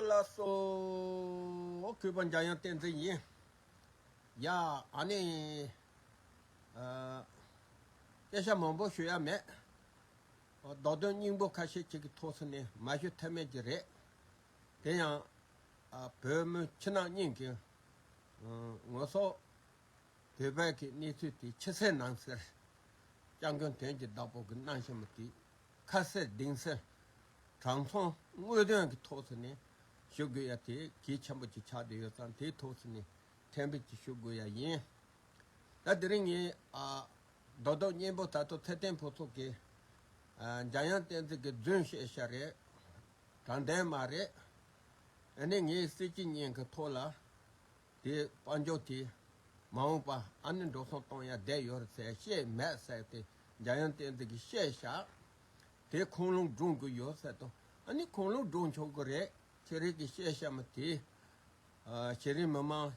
ལ་སོགས་གུས་པ་འཇམ་དབྱངས་བསྟན་འཛིན་ཡིན། ཡང་ནི། སྐད་ཆ་མང་པོ་ཞུ་ཡ་མེད། མདོ་དོན་སྙིང་པོ་ཁ་ཤས་ཅིག་གི་ཐོག་སུ་ནས་མ་ཞུ་ཐབས་མེད་ཀྱི་རེད། དེ་ཡང། བོད་མི་ཕྱི་ནང་གཉིས་ཀྱི། ངོ་སོ། བོད་བར་གྱི་གནས་ཚུལ་དེ་ཕྱི་གསལ་ནང་གསལ། སྤྱང་གྱོན་དོན་གྱི་བདག་པོ་གི་སྣང་ཞེན་མོ་དེས་ཁ་གསལ་གདེང་གསལ། དྲང་མཐོང་དངོས་དོན་གྱི་ཐོག་སུ་ནས་ཞུ་དགོས་ཡ་དེ་གལ་ཆེན་པོ་ཅིག་ཆགས་བསྡད་ཡོད་ཙང་དེའི་ཐོག་སུ་ནས་ཐེར་འབུད་ཅིག་ཞུ་དགོས་ཡ་ཡིན། ད་དེ་རིང་ངའི་རྡོ་རྡོག་གཉན་པོ་ད་དུང་ཚེ་བརྟན་ཕུན་ཚོགས་ཀྱིས་འཇམ་དབྱངས་བསྟན་འཛིན་གྱི་རྫུན་བཤད་ཤག་རེད། དྲང་བདེན་མ་རེད། ཨ་ནི་ངའི་སྲིད་སྤྱི་གཉན་གྱི་ཐོག་ལ། དེ་དཔའ་མཆོག་དེས། མ་འོངས་པ་ཨ་ནི་འགྲོ་སོང་གཏོང་ཡ་བསྡད་ཡོད་རེད་ཟེར་ཤེས་མེད་བསྲེགས་ཏེ་འཇའ་ཡང་བསྟན་འཛིན་གྱིས་བཤད་བཞག་དེ་ཁུངས་ལུང་སྒྲུང་གི་ཡོད་ཟེར་དུ་ཨ་ནི་ཁུངས་ལུང་སྒྲུང་ཆོག་གི་རེད་ཚེ་རིང་གིས་བཤད་བཤད་མ་དེ། ཤེས་རིག་མི་མང།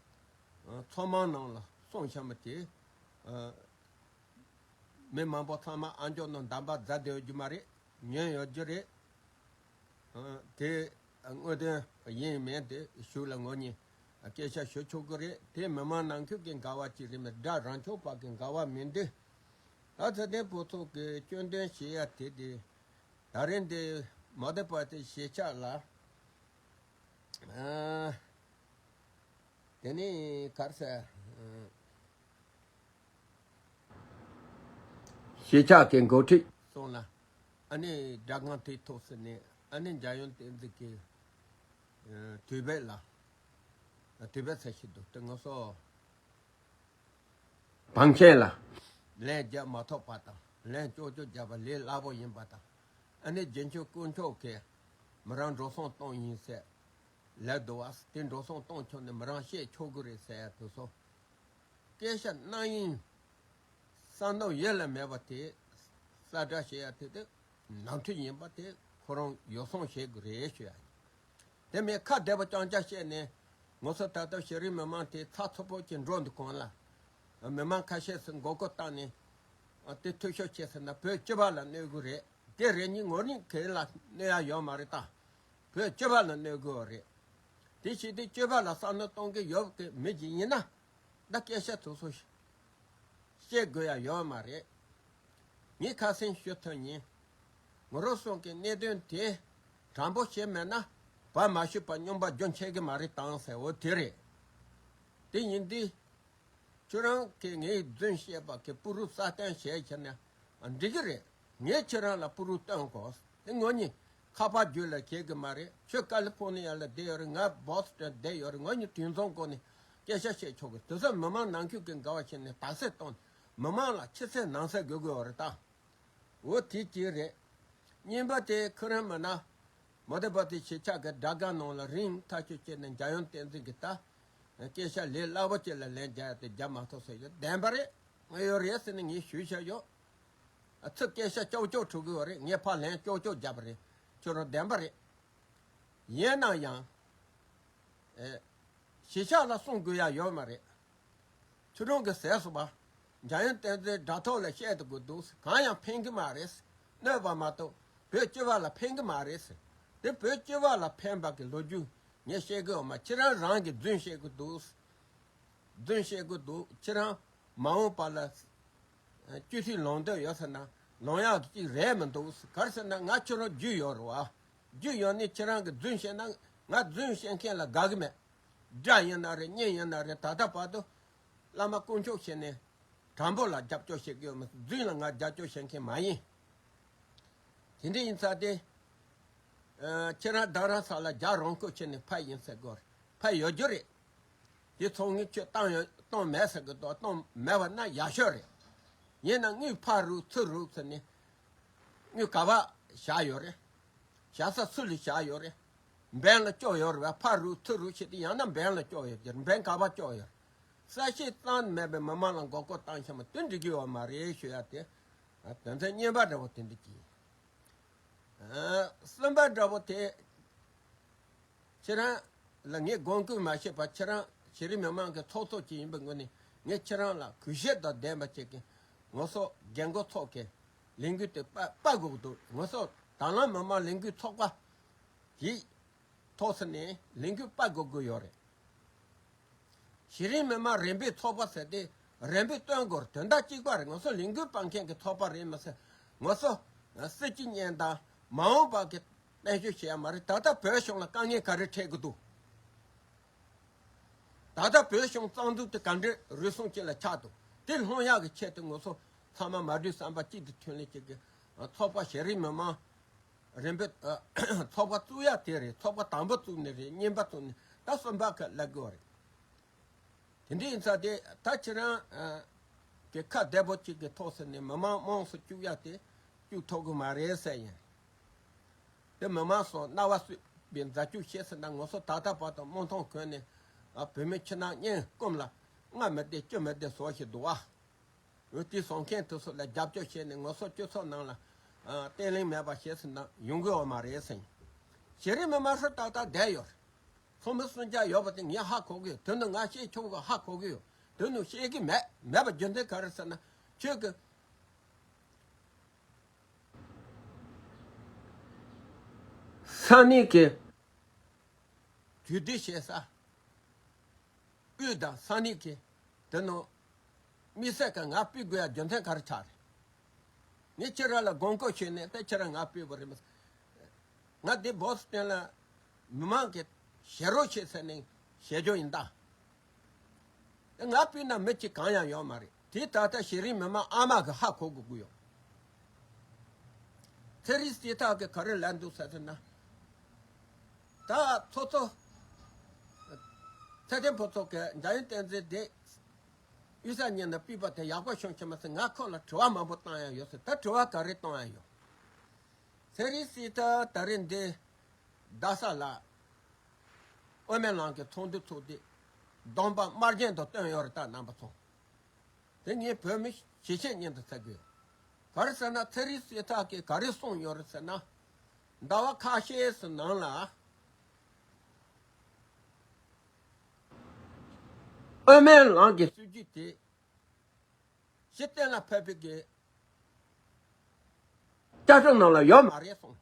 ཚོགས་མང་ནང་ལ་སོང་བཤད་མ་དེ། མི་མང་པོ་ཚང་མ་ཨ་མཆོག་ནང་འདམ་པར་འཛག་བསྡད་ཡོད་རྒྱུ་མ་རེད་ཉོན་ཡོད་རྒྱུ་རེད། དེ་དངོས་དོན་ཡིན་མིན་དེ་ཞུ་ལ་ངོ་གཉིས། སྐད་ཆ་ཤོད་ཆོག་གི་རེད་དེ་མི་མང་ནང་ཁུལ་གྱི་དགའ་བ་གཅིག་རེད་མི་དགྲ་རང་ཕྱོགས་བར་གྱི་དགའ་བ་མིན་འདི། ད་ཚེ་བརྟན་ཕོ་ཚོགས་ཀྱི་སྐྱོན་འདོན་བྱེད་ཡ་དེ་དེ། ད་རེ་འདི་མ་བསྡད་པ་དེ་ཞེ་ཆགས་ལ། དེ་ནི་གར་ས། ཞེ་ཆགས་ཀྱི་འགོ་ཁྲིད་སོང་ལ། ཨ་ནི་དགྲ་རྐང་མཐིལ་ཐོག་ཟིན་ནས་ཨ་ནི་འཇའ་ཡོན་བསྟན་འཛིན་གྱི། དུས་བབ་ལ་དུས་བབ་ཚད་ཤིང་དུ་སྟོན་ངོ་སོ། བང་ཆེན་ལ་ལན་བརྒྱ་མ་ཐོབ་པ་དང་ལན་བཅོ་བཅུ་བརྒྱབ་པ་ལས་སླ་པོ་ཡིན་པ་དང། ཨ་ནི་རྗེ་ཆོས་སྐུ་མཆོག་གིས་མི་རང་འགྲོ་སོང་གཏོང་ཡིན་ཟེར། ལད་ཟློ་བ། དེ་འགྲོ་སོང་གཏོང་ཆོག་ནི་མི་རང་བཤད་ཆོག་གི་རེད་ཟེར་དུས་སོ། སྐད་ཆ་རྣམ་གཡེང། བསམ་སྣང་ཡེ་ལ་མེད་པ་དེས་ས་བཀྲ་ཞེས་ཡ་དེ་དེ་ནང་ཁྲོལ་ཡིན་པ་དེ་ཁོ་རང་ཡོ་སྲང་བྱེད་དགོས་རེད་ཞུ་ཡ་ཡིན། དེ་མིན་ཁ་བདེ་བོ་རྐྱང་རྐྱང་བཤད་ནས། ངོ་སོ་ད་ལྟ་ཤེས་རིག་མི་མང་དེ་ཚགས་ཚུད་པོ་ཅིག་འགྲོ་འདུག་གོང་ལ། མི་མང་ཁ་ཤས་སུ་མགོ་སྐོར་བཏང་ནས། དེ་འཐུས་ཤོར་བྱས་ཟེར་ན་བོད་སྤྱི་པ་ལ་གནོད་དགོས་རེད། དེ་རེ་གཉིས་ངོ་གཉིས་གན་ལ་གནོད་ཡ་ཡོད་མ་རེད་ད། བོད་སྤྱི་པ་ལ་གནོད་དགོས་རེད། དེ་བྱས་དུས་སྤྱི་པ་ལ་བསམ་བློ་གཏོང་གི་ཡོད་པའི་མི་ཞིག་ཡིན་ན། ད་སྐད་ཆ་ཐུགས་སུ་བཤད་དགོས་ཡ་ཡོད་མ་རེད། ངས་ཁ་སེང་ཤོད་ཐུབ་ཉིན། ངོ་རོ་སོང་གི་གནད་དོན་དེ་དྲང་པོ་བྱས་མེད་ན་བར་མ་ཞུས་པར་སྙོམས་པ་རྒྱུན་ཆད་གི་མ་རེད་དང་ཟེར་འོ་དེ་རེད། དེ་ཉིན་དུས་ཁྱོད་རང་གིས་ངའི་རྫུན་བཤད་པ་གི་སྤུ་རུ་སྲ་བརྟན་བྱས་ཁྱེར་ན་འགྲིག་གི་རེད། ངས་ཁྱེད་རང་ལ་སྤུ་རུ་བཏོན་དགོས་ཨེ་ངོ་གཉིས་ཁ་པར་བརྒྱུད་ལ་བྱས་གི་མ་རེད་ཁྱོད་ཀ་ལི་ཕོ་ནི་ཡ་ལ་བསྡད་ཡོད་རེད་ང་སྦོ་སི་ཏོན་བསྡད་ཡོད་རེད་ངོ་གཉིས་དུས་མཚུངས་སྒོ་ནས་སྐད་ཆ་བཤད་ཆོག་གི་དོན་ས་མི་མང་ནང་ཁུལ་གྱི་འགལ་བ་ཆེ་ནས་དག་སེལ་གཏོང་ནས་མི་མང་ལ་ཕྱི་གསལ་ནང་གསལ་དགོས་དགོས་བ་རེད་ད། འོ་དེ་གཅིག་རེད། གཉིས་པ་དེ་ཁོ་རང་མིན་ན། མོ་དེ་པ་དེ་ཞེ་ཆགས་གི་དགྲ་དགའ་ནང་ལ་རིང་ཐག་གཅོད་བྱས་ནས་འཇའ་ཡང་བསྟན་འཛིན་གྱི་ད། སྐད་ཆ་ལས་སླ་བོ་ཅིག་ལ་ལན་རྒྱག་ཡ་དེ་རྒྱབ་མ་ཐོག་ཟེར་ཡོད་བདེན་པ་རེད་དངོས་ཡོད་རེད་ཟེར་ནས་ངས་ཞུས་བཞག་ཡོད། ཚིག་སྐད་ཆ་ཀྱོག་ཀྱོག་འཕྲོ་དགོས་བ་རེད་ངས་ཕར་ལན་ཀྱོག་ཀྱོག་རྒྱབ་པ་རེད་ཁྱོད་རང་བདེན་པ་རེད། ཡིན་ན་ཡང། གཞིས་ཆགས་ལ་སྲུང་དགོས་ཡ་ཡོད་མ་རེད། ཆུ་སྒྲོན་གྱི་ཟས་སུ་བ། འཇའ་ཡོན་བསྟན་འཛིན་དྲ་ཐོག་ལ་བཤད་དགོས་འདུག་གང་ཡང་ཕན་གྱི་མ་རེད། གནོད་པ་མ་གཏོགས་བོད་སྤྱི་བ་ལ་ཕན་གྱི་མ་རེད། འདི་བོད་སྤྱི་བ་ལ་ཕན་པ་གི་ལོ་རྒྱུས་ངས་བཤད་གི་ཡོད་མ་ཁྱེད་རང་རང་གི་རྫུན་བཤད་གི་འདུག། རྫུན་བཤད་གི་འདུག་ཁྱེད་རང་མ་འོངས་པ་ལ། སྐྱུ་ཐིག་ལོང་འདོད་ཡོད་ཟེར་ན་ལོང་ཡག་གི་གཅིག་རེད་མི་འདུག་གར་ཟེར་ན་ང་ཁྱོད་རང་རྒྱུས་ཡོད་རེད་བ། རྒྱུ་ཡོད་ནི་ཁྱེད་རང་གི་རྫུན་བཤད་ན་ང་རྫུན་བཤད་མཁན་ལ་དགའ་གི་མེད། དགྲ་ཡིན་ན་རེད་གཉེན་ཡིན་ན་རེད་ད་ལྟ་བར་དུ། བླ་མ་དཀོན་མཆོག་ཞེས་ནས། དྲང་པོ་ལ་རྒྱབ་སྐྱོར་བྱེད་གི་ཡོད་མི་སྲིད་རྫུན་ལ་ང་རྒྱབ་སྐྱོར་བྱེད་མཁན་མ་ཡིན། དེ་འདྲ་ཡིན་ཚ་སྟེ། ཁྱེད་རང་བདག་རང་ས་ལ་རྒྱག་རང་ཁུལ་ཁྱེད་ནི་ཕ་ཡིན་ཟེར་གི་རེད་ཕ་ཡོད་རྒྱུ་རེད། དེ་ཚོ་ངས་ཁྱོད་བཏང་ཡོད་བཏང་མེད་ཟེར་གི་འདུག་བཏང་མེད་བ་ན་ཡག་ཤོས་རེད། ཡིན་ན་ངའི་ཕ་རུག་ཚུར་རུག་ཟེར་ནས་སྨྱུག་ག་བ་བཞག་ཡོད་རེད། བཞག་ས་སུ་ལས་བཞག་ཡོད་རེད། འབེན་ལ་བསྐྱོད་ཡོད་རེད་བ་ཕར་རུག་ཚུར་རུག་བྱས་ཏེ་ཡང་ན་འབེན་ལ་བསྐྱོད་ཡོད་རེད་འབེན་ག་བ་བསྐྱོད་ཡོད་རེད། གསལ་བཤད་གཙང་མེད་པའི་མི་མང་ལ་མགོ་སྐོར་བཏང་ཤ་མ་དུད་འགྲིག་གི་ཡོད་མ་རེད་ཞུ་ཡག་དེ། དོན་ཚན་གཉིས་པ་འདྲ་བོ་དེ་འགྲིག་གི་ཡིན། གསུམ་པ་འདྲ་བོ་དེ། ཁྱེད་རང་ལ་ངས་དགོངས་བསྐུལ་མ་བྱས་པར་ཁྱེད་རང་གཞི་རིམ་མི་མང་གི་ཚོགས་གཙོ་ཅིག་ཡིན་པའི་ངོས་ནས་ངས་ཁྱེད་རང་ལ་གུས་ཞབས་དང་ལྡན་པ་བྱེད་ཀྱི་ངོ་སོགས་རྒྱལ་མགོ་ཚོགས་ཀྱི་ལས་འགུལ་དེ་སྤ་གོག་འདུག་ངོ་སོགས་དྭང་བླངས་མི་དམངས་ལས་འགུལ་ཚོགས་པ་ཡིས་ཐོག་ཟིན་ནས་ལས་འགུལ་སྤ་གོག་གི་ཡོད་རེད། གཞི་རིམ་མི་དམངས་རེ་འབོད་ཚོགས་པ་ཟེར་དེ་རེ་འབོད་བཏོན་སྐོར་དོན་དག་གཅིག་པ་རེད་ངོ་སོགས་ལས་འགུལ་སྤང་མཁན་གྱི་ཚོགས་པ་རེད་མི་སྲིད་ངོ་སོགས་སྲིད་སྤྱི་གཉེན་དང་མ་འོངས་པ་གི་དཔལ་འབྱོར་བྱེད་ཡ་མ་རེད་ད་ལྟ་བོད་གཞུང་ལ་དཀའ་ངལ་ག་རེ་འཕྲད་ཀྱི་འདུག་ད་ལྟ་བོད་གཞུང་གཙང་འཛུགས་དེ་ག་འདྲའི་རུལ་སུངས་ཅན་ལ་ཆགས་འདུག་དེ་སློང་ཡག་གི་ཆེད་དུ་ངོ་སོ་ཚང་མ་མ་བསྡུས་བསམ་པ་གཅིག་ཏུ་ཐོན་ལས་བྱེད་དགོས། ཚོགས་པ་ཞེ་རིགས་མི་མང་རིན་པོ་ཚོགས་པ་བཙུགས་ཡག་དེ་རེད་ཚོགས་པ་དང་པོ་བཙུགས་ནི་རེད་གཉིས་པ་བཙུགས་ནི་ད་གསུམ་པ་ཁ་གླ་དགོས་བ་རེད། དེ་འདྲ་ཡིན་ཚ་དེ་ད་ཁྱེད་རང་གི་ཁ་བདེ་པོ་གཅིག་གི་ཐོག་ཟེར་ནས་མི་མང་དམངས་སུ་བཅུག་ཡག་དེ་བཅུག་ཐོག་གི་མ་རེད་ཟེར་ཡིན། དེ་མི་མང་སོགས་རྣ་བ་བསུས་པའི་མཛའ་གཅུགས་ཤེས་ཟིན་ན་ངོ་སོ་ཐག་ཐག་པ་དང་རྨོངས་མཐོང་གོན་ནས། བུད་མེད་ཕྱི་ནང་སྙན་སྐུམ་ལ། སྔ་མི་བདེ་སྐྱོ་མི་བདེ་ཟོ་ཞེས་བསྡུ་བ། འོས་བསྡུའི་ཟོང་མཁན་དེ་ཚོ་ལ་རྒྱབ་སྐྱོར་བྱས་ནས་ངོ་སོ་སྐྱོ་ཚོགས་ནང་ལ། བརྟན་བརླིང་མེད་པ་བྱས་ཟིན་ན་ཡོང་གི་འོ་མ་རེད་ཟེར། གཞི་རིམ་མི་མང་ཧྲུལ་ཏག་ཏག་བསྡད་ཡོད། ཚོགས་མི་སུམ་བརྒྱ་ཡོད་པ་དེ་ངས་ཧ་གོ་གི་ཡོད་དོན་དུ་ང་བཤད་ཆོག་གི་ཧ་གོ་གི་ཡོད་དོན་དུ་བཤད་ཀྱི་མེད་མེད་པ་རྒྱུ་མཚན་ག་རེ་ཟེར་ན། ཁྱོད་ཀྱི། ས་གནས་ཀྱི། དུས་བདེ་གཤེགས་ས། དབུས་དང་ས་གནས་ཀྱི། དེ་ནོ། མི་ཟད་ཀྱི་ང་སྤི་དགོས་ཡ་རྒྱུ་མཚན་ག་རེ་ཆགས་རེད། ངས་ཁྱེད་རང་ལ་དགོངས་བསྐོ་ཞུས་ནས་དེ་ཁྱེད་རང་ང་སྤི་བོ་རེད་མི། ང་འདི་བོད་སི་སྟོན་ལ་མི་མང་གི་ཞེ་རོགས་ཤིག་ཟེར་ནས་ཞེ་རྒྱུ་ཡིན་ད། ང་སྤུན་ནམ་མི་གཅིག་གང་ཡང་ཡོད་མ་རེད་དེ་ད་ལྟ་ཤེས་རིག་མི་མང་ཨ་མ་གི་ཧ་གོ་གི་དགོས་ཡོད་ཚེ་རིས་དེ་དག་གི་ག་རེ་ལས་འདུག་ཟེར་ན་ད་ཚོ་ཚོ་ཚེ་བརྟན་ཕོ་ཚོ་གི་འཇའ་ཡོན་བསྟན་འཛིན་དེ་གཡུལ་ས་གཉིས་ནས་སྤུད་པ་དེ་ཡག་པོ་བྱུང་ཆེ་མ་ཟེར་ང་ཁོ་ལ་དྲི་བ་མང་པོ་བཏང་ཡང་ཡོད་ཟེར་ད་དྲི་བ་ག་རེ་བཏང་ཡང་ཡོད་ཚེ་རིས་དེ་ད་རེས་འདི་རྡ་ས་ལ་དབེན་མེད་ལང་གི་ཚོགས་འདུའི་ཚོགས་སྡེ། སྡོམ་པ་དམར་རྗེན་དུ་བཏོན་ཡོད་རེད་ད་རྣམ་པ་ཚོ། དེ་གཉིས་བོད་མི་ཞེ་ཆེན་གཉེན་དུ་ཚད་དགོས། ག་རེ་ཟེར་ན་ཚེ་རིང་སྲས་ཐག་གིས་ག་རེ་གསུངས་ཡོད་རེད་ཟེར་ན། ཟླ་བ་ཁ་ཤས་སུ་ནང་ལ། དབེན་མེད་ལང་གི་སྲིད་ཇུས་དེ། གཞི་གཏན་ལ་ཕབ་པའི་གི། བཅའ་ཁྲིམས་ནང་ལ་ཡོད་མ་རེད་གསུངས།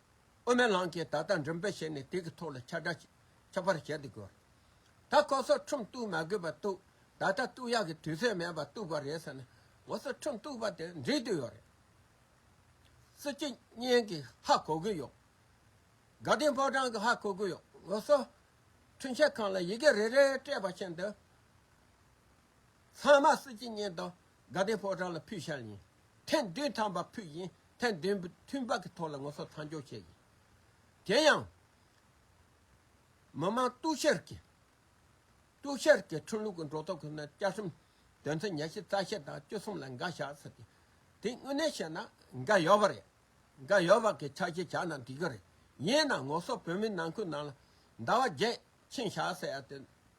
དབུ་མའི་ལམ་གྱིས་ད་ལྟ་མགྲིན་པའི་ཞལ་ནས་དེ་གི་ཐོག་ལ་ཁྱབ་བསྒྲགས་ཁྱབ་པར་བྱེད་དུ་དགོས། ད་ཁོ་སོག་ཁྲིམས་གཏུགས་མ་དགོས་པ་གཏུགས་ད་ལྟ་གཏུགས་ཡག་གི་དུས་ཚོད་མེད་པར་གཏུགས་པ་རེད་ཟེར་ན་ངོ་སོ་ཁྲིམས་གཏུགས་པ་དེ་འགྲིག་དུ་ཡོད་རེད། སྲིད་སྤྱི་གཉན་གི་ཧ་གོ་གི་ཡོད། དགའ་ལྡན་ཕོ་བྲང་གི་ཧ་གོ་གི་ཡོད་ངོ་སོ། ཁྲིམས་ཆད་ཁང་ལ་ཡི་གེ་རེ་རེ་སྤྲད་པ་བཞིན་དུ། ཚང་མ་སྲིད་སྤྱི་གཉན་དང་དགའ་ལྡན་ཕོ་བྲང་ལ་ཕུལ་ཤར་ཡིན། ཐེངས་བདུན་ཐང་པ་ཕུལ་ཡིན་ཐེངས་བདུན་མཐུན་དཔག་གི་ཐོག་ལ་ངོ་སོ་ཐང་འཇོག་བྱས་ཡིན། དེ་ཡང། མི་མང་གཏུགས་ཤར་གྱི། གཏུགས་ཤར་གྱི་ཁྲིམས་ལུགས་ཀྱི་འགྲོ་ལྡོག་གི་ནི་བསྐྱར་ཁྲིམས་དོན་ཚན་ཉེར་བཞི་རྩ་ཤེར་དང་བཅུ་གསུམ་ལ་འགའ་བཞག་ཟེར་ཏེ། དེ་དངོས་གནས་བཤད་ན་འགའ་ཡོད་པ་རེད། འགའ་ཡོད་པ་གི་ཕྱག་བཞེས་བྱ་ན་འགྲིག་གི་རེད། ཡིན་ནའང་ངོ་སོ་བོད་མིའི་ནང་ཁུལ་ནང་ལ་ཟླ་བ་བརྒྱད་ཕྱིན་བཞག་ཟེར་ཡ་དེ་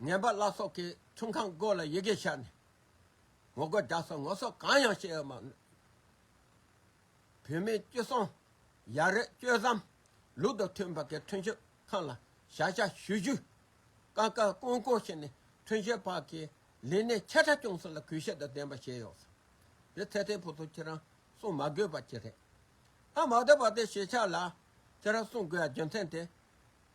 ངན་པ་བླ་སྲོག་གིས་ཚོང་ཁང་སྒོ་ལ་ཡི་གེ་བཞག་ནས། ངོ་རྒོལ་རྒྱག་སྲོལ་ངོ་སྲོག་གང་ཡང་བཤད་ཡོད་མ་རེད། བོད་མིའི་སྤྱི་སྲོང། ཡ་རེད་སྤྱོད་བཟང། ལུགས་དང་མཐུན་པ་གི་མཐུན་སྤྱོད་ཁང་ལ་བྱ་བཞག་ཞུ་རྒྱུ། ཀ་ཀ་ཀོང་ཀོང་བྱས་ནས་མཐུན་སྤྱོད་བར་གྱི་ལས་གནས་ཆ་ཕྲ་སྐྱོང་སྲོལ་ལ་གུས་ཞབས་དང་ལྡན་པ་བྱས་ཡོད། དེ་ཚེ་ཐེ་བུ་ཚོ་ཁྱེད་རང་གསུང་མ་དགོས་པ་ཅི་རེད། ད་མ་བསྡད་པ་དེ་ཞེ་ཆགས་ལ། ཁྱེད་རང་གསུང་དགོས་ཡ་རྒྱུ་མཚན་དེ།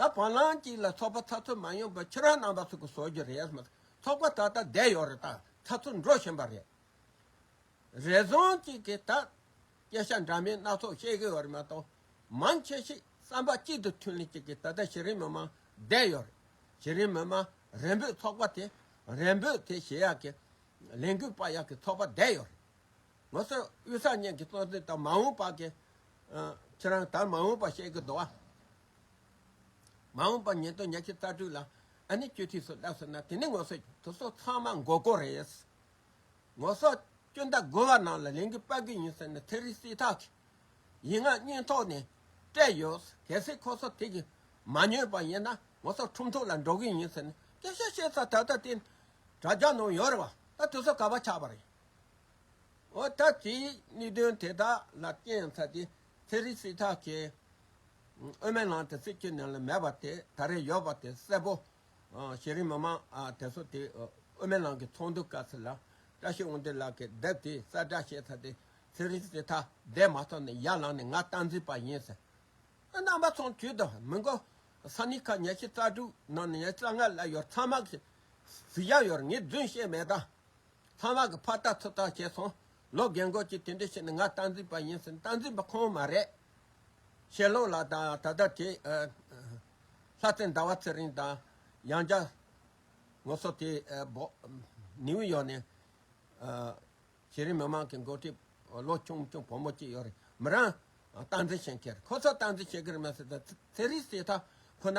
ད་བར་ལངས་ཀྱིས་ལ་ཚོགས་པ་ཚ་ཚོད་མ་ཡོང་པར་ཁྱེད་རང་རྣམ་པ་ཚོ་གི་བཟོ་རྒྱུ་རེད་མ་ཚོགས་པ་ད་ལྟ་བསྡད་ཡོད་རེད་ད་ཚ་ཚོད་འགྲོ་བཞིན་པ་རེད། རེ་ཟུང་ཅིག་གིས་ད་སྐད་ཆ་འདྲ་མིན་སྣ་ཚོགས་བཤད་གི་ཡོད་རེད་མ་གཏོགས་མང་ཆེ་ཞིག་བསམ་པ་གཅིག་ཏུ་མཐུན་ལེན་ཅིག་གིས་ད་ལྟ་གཞི་རིམ་མི་མང་བསྡད་ཡོད་རེད་གཞི་རིམ་མི་མང་རེ་འབོད་ཚོགས་པ་དེ་རེ་འབོད་དེ་བྱེད་ཡག་གི་ལས་འགུལ་སྤར་ཡག་གི་ཚོགས་པ་བསྡད་ཡོད་རེད། ངོ་སོ་དབུས་ས་གཉིས་ཀྱི་གཙོ་འཛིན་དང་མ་འོངས་པ་གི། ཁྱེད་རང་ད་མ་འོངས་པ་བཤད་གི་འདུག་བ། མ་འོངས་པར་ཉེན་རྟོག་ཉག་གཅིག་རྩ་དྲུག་ལ་ཨ་ནེ་སྐྱོད་ཐིག་སོགས་བསླབས་སོང་ན་དེ་ནི་ངོ་སོས་དུག་སོགས་ཚང་མ་འགོ་དགོས་རེད། ངོ་སོ་སྐྱོན་ཟླ་དགོས་པ་ནང་ལ་ལན་གྱི་དཔའ་རྒོད་ཡིན་ཟེར་ནས་ཐེ་རི་སི་ཐག་གི་ཡིག་ངག་སྙིང་ཐོག་ནས་སྤྲད་ཡོད། གལ་སྲིད་ཁོ་ཚོ་དེ་གི་མ་ཉོས་པ་ཡིན་ན་ངོ་སོ་ཁྲུམ་ཐུག་ལ་འགྲོ་གི་ཡིན་ཟེར་ནས་སྐད་ཤ་བཤད་ས་ད་ལྟ་དེ་དྲ་རྒྱ་ནང་ཡོད་རེད་བ་ད་དུས་ཚོད་ག་བ་ཆགས་པ་རེད། འོ་ད་དེའི་གནད་དོན་དེ་དག་ལ་རྐྱེན་ཚ་དེ་ཚེ་རིང་སྲིད་ཐག་ཆད། དབུ་མའི་ནང་དེ་སྲིད་ཅིག་ནས་ལ་མེད་པ་དེ་ད་རེས་ཡོད་པ་དེ་གསལ་པོ། གཞི་རིམ་མི་མང་དེ་ཚོ་དེ་དབུ་མའི་ནང་གི་ཚོགས་འདུ་སྐབས་སུ་ལ་བཀྲ་ཤིས་དབང་འདུས་ལགས་ཀྱི་དེབ་དེ་གསལ་བསྒྲགས་བྱས་ཚར་ཏེ་ཚེ་རིང་སྲིད་ཐག་བསྡད་མ་ཐག་ནས་ཡར་ལངས་ནས་ང་སྟངས་འཛིན་པ་ཡིན་ཟེར། རྣམ་པ་ཚང་བྱོས་དང་མི་འགོ། ས་གནས་ཁག་ཉེར་བཞི་རྩ་དྲུག་ནང་ནས་ཉེར་བཅོ་ལྔ་བསླེབས་ཡོད་ཚང་མ་གིས་གཟིགས་ཡག་ཡོད་རེད་ངས་རྫུན་བཤད་མེད་ད། ཚང་མ་གི་ཕར་ལྟ་ཚུར་ལྟ་བྱས་སོང། ལོ་རྒན་འགོ་གཅིག་དེ་འདྲས་བྱས་ནས་ང་རྟ་འཛིན་པ་ཡིན་ཟེར་རྟ་འཛིན་པ་ཁོང་མ་རེད། ཞེ་ལོང་ལགས་དང་ད་ལྟ་དེ། ལྷ་རྩེ་ཟླ་བ་ཚེ་རིང་དང་ཡང་བྱ། ངོ་སོ་དེ། ནིའུ་ཡོག་ནས། གཞི་རིམ་མི་མང་གི་འགོ་ཁྲིད། ལོ་ཆུང་ཆུང་བུ་མོ་གཅིག་ཡོད་རེད། མི་རང། རྟ་འཛིན་བྱེད་མཁན་རེད། ཁོ་ཚོ་རྟ་འཛིན་བྱེད་གི་རེད་མ་ཟེར། ཚེ་རིང་སི་ཐ་ཁོ་ན།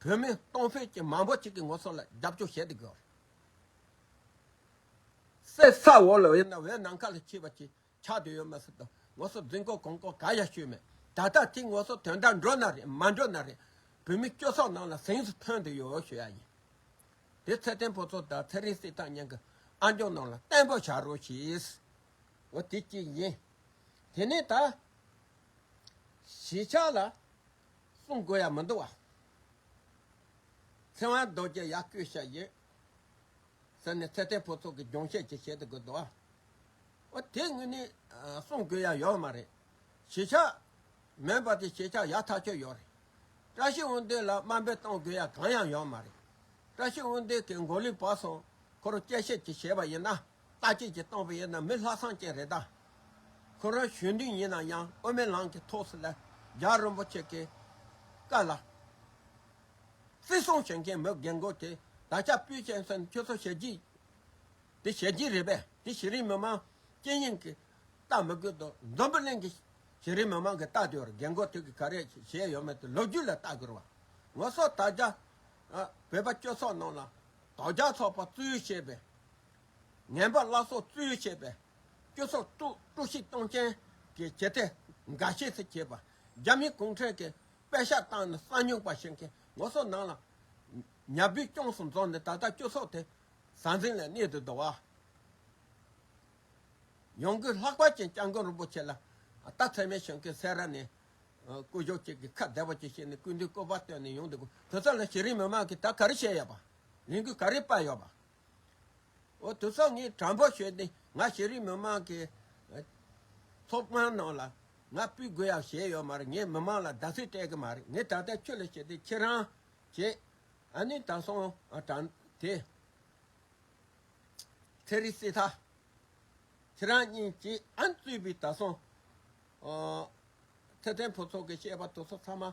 བོད་མི་སྟོང་ཕོད་ཅིག་མང་པོ་ཅིག་གི་ངོ་སོ་ལ་རྒྱབ་སྐྱོར་བྱེད་དུ་གོ། གསེར་ས་འོག་ལ་འོད་ན་འོད་ནམ་མཁའ་ལ་འཁྱིལ་བ་ཅིག་ཆགས་དུ་ཡོད་མ་སྲིད་དོ་ངོ་སོ་རྫིག་མགོ་གོང་མགོ་ག་ཡ་ཤོས་མེད་ད་ལྟ་དེ་ངོ་སོ་དོན་དག་འགྲོ་ན་རེད་མ་འགྲོ་ན་རེད་བོད་མི་སྐྱོ་སོགས་རྣམས་ལ་ཟིངས་སུ་ཐོན་དུ་ཡོད་ཞུ་ཡ་ཡིན་དེ་ཚེ་བརྟན་ཕོ་ཚོགས་དང་ཚེ་རིང་སྲིད་ཐང་གཉན་གྱི་ཨ་འབྱོང་རྣམས་ལ་བརྟན་པོ་བྱ་རོགས་ཞེས་འོ་དེ་གཅིག་ཡིན་དེ་ནས་ད་གཞིས་ཆགས་ལ་གསུང་དགོས་ཡ་མི་འདུག་བ། ཚེ་དབང་རྡོ་རྗེ་ཡག་བསྐུལ་བྱས་ཡོད། ཟེར་ནས་ཚེ་བརྟན་ཕུན་ཚོགས་ཀྱི་སྦྱོང་བྱེད་ཅིག་བྱེད་དུ་དགོས་འདུག་བ། འོ་དེ་དངོས་ནས་གསུང་དགོས་ཡ་ཡོད་མ་རེད། གཞིས་ཆགས་མེད་པ་དེ་གཞིས་ཆགས་ཡག་ཐག་ཆོད་ཡོད་རེད། བཀྲ་ཤིས་དབོན་སྡེ་ལ་དམའ་འབེབས་གཏོང་དགོས་ཡ་གང་ཡང་ཡོད་མ་རེད། བཀྲ་ཤིས་དབོན་སྡེ་གི་མགོ་ལུས་བག་སོང་ཁོ་རུ་དཔྱད་ཞིབ་ཅིག་བྱས་པ་ཡིན་ན། བལྟ་དཔྱད་ཅིག་གཏོང་པ་ཡིན་ན་མི་ལྷག་བསམ་ཅན་རེད་ད། ཁོ་རང་གཞོན་ནུ་ཡིན་ན་ཡང་དབུ་མའི་ལམ་གྱི་ཐོག་སུ་ལ་རྒྱ་རིན་པོ་ཆེ་གི་བཀའ་ལ་བརྩི་སྲུང་བྱེད་མཁན་མི་རྒན་རྒོན་དེ་ད་ཆ་པུའུ་ཅན་སོན་ཁྱོད་ཚོ་ཞལ་གྱིས་དེ་ཞལ་གྱིས་རེད་པས་དེ་གཞི་རིམ་མི་མང་སྤྱི་གཉེར་གྱི་རྟགས་མི་དགོས་འདུག་འཛམ་བུ་གླིང་གི་གཞི་རིམ་མི་མང་གི་རྟགས་དེ་བར་རྒན་རྒོན་དེ་གིས་ག་རེ་བྱས་ཡོད་མེད་དེ་ལོ་རྒྱུས་ལ་བལྟ་དགོས་བ། ངོ་སོ་དག་རྒྱ་བོད་པ་སྤྱོད་ཚོགས་ནང་ལ་དོག་རྒྱ་ཚོགས་པ་བཙུའུ་ཞེས་པས་ངན་པ་བླ་སྲོག་བཙུའུ་ཞེས་པས་སྤྱོད་ཚོགས་དཀྲུགས་ཤིང་གཏོང་ཅན་གྱི་བྱེད་གཏེ་འགའ་ཤས་སུ་བྱས་པ། རྒྱ་མི་གུང་ཁྲན་གྱི་པད་ཤག་བཏང་ནས་ས་སྨྱུག་པ་ཞིག་གིས་ངོ་སོ་ནང་ལ་ཉྭ་བུའི་ཅོང་སུ་འཛོགས་ནས་ད་ལྟ་སྤྱོད་ཚོགས་དེ་ཟང་ཟིང་ལ་གནས་འདུག་འདུག། ཡང་སྒོས་ལྷག་པ་ཅན་སྐྱབས་མགོན་རིན་པོ་ཆེ་ལ་རྟ་ཚད་མའི་ཞིང་ཁའི་སེ་ར་ནས་སྐུ་ཞོག་ཅིག་གིས་ཁ་བདེ་བོ་ཅིག་བྱས་ནས་སྐུ་མདུན་བསྐོར་བ་བཏོན་ནས་ཡོང་འདུག་དུས་ཚོད་ལ་ཤེས་རིག་མི་མང་གིས་ད་ག་རེ་བཤད་ཡོད་པ། ལས་འགུལ་ག་རེ་སྤར་ཡོད་པ། འོ་དུ་ཚོགས་ངས་དྲ་འབུ་ཞོས་ཏེ་ང་ཤེས་རིག་མི་མང་གི་ཚོགས་མང་ནང་ལ་ང་སྤུད་དགོས་ཡག་བྱས་ཡོད་མ་རེད་ངས་མི་མང་ལ་བདག་སྲིད་སྤྲད་གི་མ་རེད་ངས་ད་ལྟ་ཁྱོད་ལ་བྱས་ཏེ་ཁྱེད་རང་བྱས་ཨ་ནི་དྲང་སྲོང་དྲང་དེ་ཚེ་རིག་སྲིད་ཐ་ཁྱེད་རང་གཉིས་ཀྱིས་ཨ་ནི་རྩོད་པའི་དྲང་སྲོང་ཚེ་བརྟན་ཕུན་ཚོགས་ཀྱི་བཤད་པ་དུ་ཚོགས་ཚང་མ།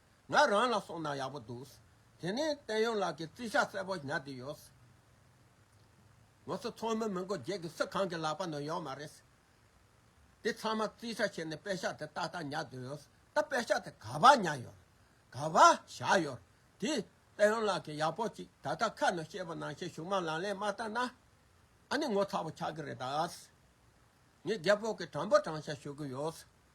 ང་རང་ལ་སོང་ན་ཡག་པོ་འདུག། དེ་ནས་བསྟན་ཡོན་ལགས་ཀྱིས་བརྩི་བཞག་གསལ་པོ་ཉར་དུས་ཡོད། ངོ་སོ་ཚོགས་མི་མི་མགོ་བརྒྱད་ཀྱི་སུ་གང་གི་ལག་པ་ནང་ཡོད་མ་རེད། དེ་ཚང་མ་བརྩི་བཞག་བྱས་ནས་དཔེ་ཤག་དེ་ཏག་ཏག་ཉར་དུས་ཡོད། ད་དཔེ་ཤག་དེ་ག་པར་ཉར་ཡོད། ག་པར་བཞག་ཡོད། དེས་བསྟན་ཡོན་ལགས་ཀྱིས་ཡག་པོ་ཅིག་ད་ལྟ་ཁ་ནང་ཤེས་པ་ནང་བཞིན་གཞུང་མང་ལང་ལེན་མ་བཏང་ན། ཨ་ནི་ངོ་ཚ་བོ་ཆགས་ཀྱི་རེད་ད། ངས་རྒད་པོ་གི་དྲང་པོ་དྲང་བཞག་ཞུ་གི་ཡོད།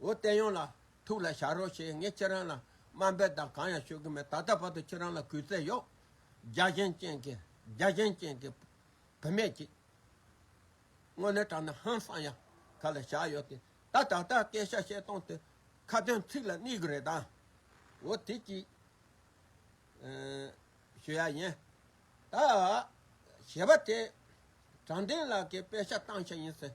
འོ་བསྟན་ཡོང་ལ། ཐུགས་ལ་བཞག་རོགས་ཞེས་ངས་ཁྱེད་རང་ལ་དམའ་འབེབས་དང་གང་ཡང་ཞུ་གི་མེད་ད་ལྟ་བར་དུ་ཁྱེད་རང་ལ་གུས་བརྩེ་ཡོད། རྒྱ་གཞན་ཅན་གྱི། རྒྱ་གཞན་ཅན་གྱི། བུད་མེད་ཅིག། དངོས་གནས་དྲང་ན་ཧང་སང་ཡང་ག་ལ་བཞག་ཡོད་དེ། ད་ད་ལྟ་སྐད་ཤ་བཤད་སྟངས་དེ། ཁ་དོན་ཚིག་ལ་གནས་གི་རེད་དཱ། འོ་དེ་ཅིག། ཞུ་ཡ་ཡིན། ད། ཞེས་པ་དེ། དྲང་བདེན་ལགས་ཀྱིས་དཔེ་ཆ་བཏང་ཤ་ཡིན་ཟེར།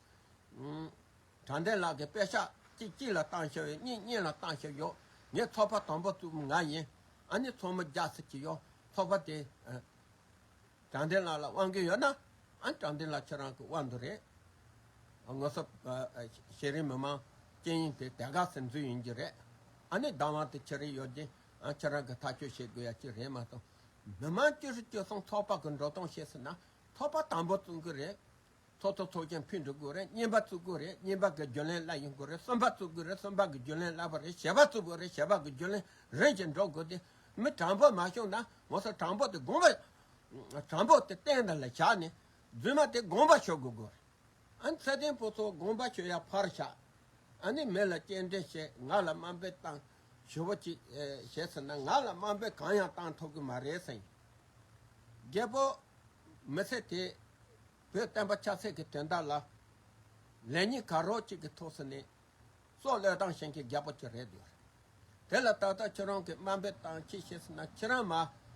དྲང་བདེན་ལགས་ཀྱི་དཔེ་ཆ་གཅིག་གཅིག་ལ་བཏང་ཤོག་ཡོད་གཉིས་གཉིས་ལ་བཏང་ཤོག་ཡོད་ངའི་ཚོགས་པ་དང་པོ་བཙུགས་ང་ཡིན་ཨ་ནི་ཚོགས་མི་རྒྱག་སྲིད་ཀྱི་ཡོད་ཚོགས་པ་དེ་དྲང་བདེན་ལགས་ལ་དབང་གི་ཡོད་ན་ཨ་ནི་དྲང་བདེན་ལགས་ཁྱེད་རང་གི་དབང་དུ་རེད་ངོ་སོབ་ཤེས་རིག་མི་མང་སྤྱན་ཡིན་དེ་དད་དགའ་ཟེར་མཛོད་ཡིན་གྱི་རེད་ཨ་ནི་བདག་དབང་དེ་ཁྱེད་རིག་ཡོད་ཀྱིས་ཁྱེད་རང་གི་ཐག་གཅོད་བྱེད་དགོས་ཡ་གཅིག་རེད་མ་གཏོགས་མི་མང་བཅུ་ཧྲི་བཅུ་གསུམ་ཚོགས་པ་གི་འགྲོ་སྟངས་ཤེས་སྲིད་ན་ཚོགས་པ་དང་པོ་བཙུགས་གི་རེད་ཚོགས་གཙོ་ཚོགས་ཆེན་ཕུལ་འགྲོ་དགོས་རེད་བསྙེན་པ་བཙུགས་དགོས་རེད་བསྙེན་པ་གི་རྒྱུན་ལས་སླ་ཡིན་དགོས་རེད་གསོན་པ་བཙུགས་དགོས་རེད་གསོན་པ་གི་རྒྱུན་ལས་སླ་བ་རེད་བྱ་བ་བཙུགས་དགོས་རེད་བྱ་བ་གི་རྒྱུན་ལས་རིམ་གྱིས་འགྲོ་དགོས་ཏེ། མི་དྲང་པོ་མ་བྱུང་ན་ངོ་སོ་དྲང་པོ་དེ་དགོངས་པ། དྲང་པོ་དེ་གཏན་དང་ལ་བྱ་ནས་རྫུན་མ་དེ་དགོངས་པ་ཆོས་དགོས་དགོས་རེད། ཨ་ནི་ཚད་ལྡན་པོ་ཚོ་དགོངས་པ་ཆོས་ཡ་ཕར་བཞག། ཨ་ནི་མི་ལ་སྐྱེལ་འདྲེན་བྱེད་ང་ལ་དམའ་འབེབས་བཏང། ཞུ་བ་གཅིག། བྱས་ཟིན་ན་ང་ལ་དམའ་འབེབས་གང་ཡང་བཏང་ཐུབ་གི་མ་རེད་སེང། རྒད་པོ། མི་ཚེ་དེ། བོད་བསྟན་པ་ཆབ་སྲིད་ཀྱི་དོན་དག་ལ། ལན་གཉིས་གར་རོགས་གཅིག་གི་ཐུགས་སུ་གནས། སྲོག་བློས་བཏང་བཞིན་གྱི་རྒད་པོ་ཁྱོད་རེད་འདོད། དེ་ལ་ད་ལྟ་ཁྱོད་རང་གི་དམའ་འབེབས་བཏང་ཕྱིས་བྱས་ཟིན་ན་ཁྱེད་རང་མ་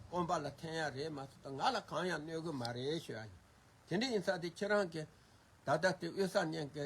དཀོན་པ་ལ་ཐན་ཡག་རེད་མ་གསུངས་ད་ང་ལ་གང་ཡང་གནོད་གི་མ་རེད་ཞུ་ཡག་ཡིན། དེ་འདྲ་ཡིན་ས་དེ་ཁྱེད་རང་གི་ད་ལྟ་དེ་དབུས་ས་གཉན་གྱི་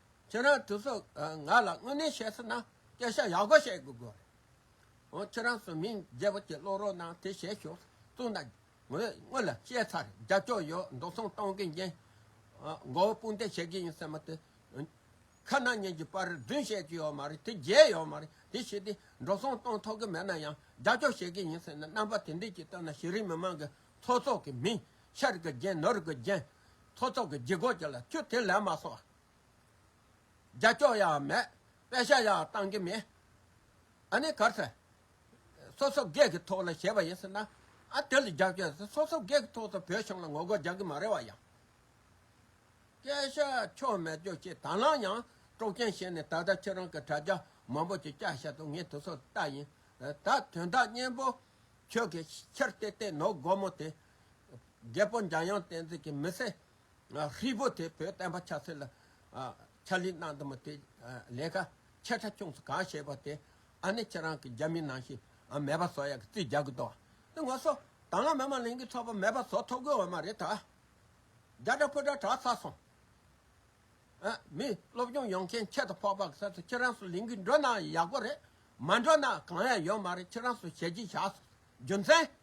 ཁྱེད་རང་ཚོས་ང་ལ་དངོས་གནས་བཤད་ཟིན་ན་སྐད་ཆ་ཡག་པོ་བཤད་དགོས་རེད། འོ་ཁྱེད་རང་ཚོས་མིང་རྒྱལ་པོ་གྱི་བློ་རོགས་གནང་དེ་བཤད་ཞོར་གཙུག་ན་ངོས་དངུལ་བཤད་ཚར་རྒྱབ་སྐྱོར་ཡོད་འགྲོ་སོང་གཏོང་གི་འགན་མགོ་བོ་དཔུང་འདེགས་བྱེད་གི་ཡིན་ཟེར་མ་དེ་ཁ་ནང་ཉན་གྱི་པར་བདུན་བཤད་ཀྱི་ཡོད་མ་རེད་དེ་བརྒྱད་ཡོད་མ་རེད་དེ་བཤད་དེ་འགྲོ་སོང་གཏོང་ཐོག་གི་མེད་ན་ཡང་རྒྱབ་སྐྱོར་བྱེད་གི་ཡིན་ཟེར་ན་རྣམ་པ་དེ་འདྲས་ཀྱིས་བཏོན་ན་གཞི་རིམ་མི་མང་གི་ཚོགས་གཙོ་གི་མིང་ཤར་གི་རྒྱན་ནོར་གི་རྒྱན། ཐོ་ཚོགས་ཀྱི་ལྗིད་གོག་ཅིག་ལ་ཁྱོད་དེ་ལས་མ་སོང། རྒྱ་སྐྱོགས་ཡག་མེད་པད་ཤ་ཡག་བཏང་གི་མེད། ཨ་ནི་གར་ཟེར། སོ་སོ་སྒེར་གྱི་ཐོག་ལ་བྱས་པ་ཡིན་ཟེར་ན། ཨ་དེ་ལ་རྒྱབ་སྐྱོར་ཟེར་སོ་སོ་སྒེར་གྱི་ཐོག་ཏུ་བོད་གཞུང་ལ་ངོ་རྒོལ་རྒྱག་གི་མ་རེད་བ་ཡང། སྐད་ཆ་ཆོ་མེད་རྒྱོ་ཆེ་དྭང་བླངས་ཡང་དཀྲོག་རྐྱེན་བྱས་ནས་ད་ལྟ་ཁྱེད་རང་གི་དྲ་རྒྱ་མང་པོ་ཅིག་བསྐྱར་བཤད་དུ་ངས་དུ་སོ་ལྟ་ཡིན་ད་དོན་དག་སྙན་པོ་ཁྱོད་ཀྱིས་ཁྱེར་ཏེ་ཏེ་ནོར་སྒོར་མོ་དེ་རྒྱལ་པོ་འཇམ་དབྱངས་བསྟན་འཛིན་གྱི་མི་སེར་ཧྲིལ་པོ་དེ་བོད་བསྟན་པ་ཆབ་སྲིད་ལ་ཕྱག་ལས་གནང་འདུག་མི་དེས་ལས་ཀ་ཆེ་ཕྲ་ཆུང་ཚུལ་གང་བྱས་པ་དེ་ཨ་ནེ་ཁྱེད་རང་གི་རྒྱ་མི་ནང་བཞིན་མེད་པ་བཟོ་ཡག་གི་རྩིས་རྒྱག་གི་འདུག་དེ་ངོ་སོ་ད་སྔ་མི་མང་ལིང་གི་ཚོགས་པ་མེད་པ་བཟོ་ཐོབ་གི་འོ་མ་རེད་ད་རྒྱ་དྲ་ཕུ་དྲ་གྲགས་ཚར་སོང་ཨ་མི་སློབ་སྦྱོང་ཡོང་མཁན་ཁྱེད་དང་ཕོག་པ་གི་ས་སུ་ཁྱེད་རང་སུ་ལིང་གི་འགྲོ་ན་ཡག་པོ་རེད་མ་འགྲོ་ན་གང་ཡང་ཡོད་མ་རེད་ཁྱེད་རང་སུ་ཞལ་གྱིས་བཞག་སོང་རྒྱུ་མཚན།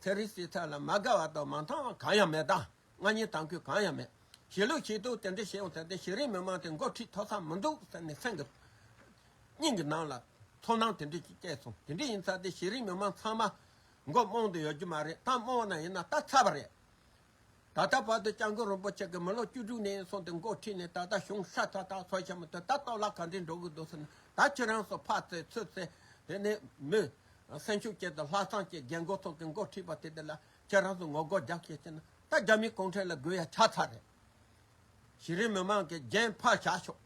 ཚན་རིག་སྲིད་ཚབ་ལ་མ་དགའ་བ་དང་མ་མཐང་བ་གང་ཡང་མེད་དང་མངའ་བརྙེས་དང་གུས་གང་ཡང་མེད། ཞེས་ལུགས་ཤིག་འདུག་དེ་འདྲ་བྱས་ཡོང་ཚེ་དེ་ཤེས་རིག་མི་མང་དེ་འགོ་ཁྲིད་ཐོག་ཚང་མི་འདུག་ཟེར་ནས་སེམས་ཀྱི་སྙིང་གི་ནང་ལ་ཚོར་སྣང་དེ་འདྲ་ཞིག་སྐྱེས་སོང་དེ་འདྲ་ཡིན་ཚ་དེ་ཤེས་རིག་མི་མང་ཚང་མ་མགོ་རྨོངས་དུ་ཡོད་རྒྱུ་མ་རེད་ད་རྨོངས་ན་ཡིན་ན་ད་ཚ་བ་རེད་ད་ལྟ་བར་དུ་སྤྱང་དགོན་རིན་པོ་ཆེ་གི་མི་ལོ་བཅུ་དྲུག་ནས་སོང་སྟེ་མགོ་ཁྲིད་ནས་ད་ལྟ་གཞུང་ས་ཚ་ཐག་ཚོ་ཆེན་མོ་དེ་ལྟ་གཏོར་བརླག་ག་འདྲས་འགྲོ་གི་འདུག་ཟེར་ན་ད་ཁྱོད་རང་ཚོ་ཕར་ཚེ་ཚུར་ཚེ་དེ་ནས་མི། སེམས་ཤུགས་བསྐྱེད་དེ་ལྷ་ཚང་བཅས་རྒན་རྒོན་ཚོ་གི་མགོ་ཁྲིད་པ་དེ་དེ་ལ་ཁྱོད་རང་ཚོ་ངོ་རྒོལ་རྒྱག་ཤེས་ཟེར་ན་ད་རྒྱ་མི་གུང་ཁྲན་ལ་རྒོལ་ཡ་ཆགས་ཚར་རེད། གཞི་རིམ་མི་མང་གི་རྒྱན་ཕར་བཞག་ཤོག།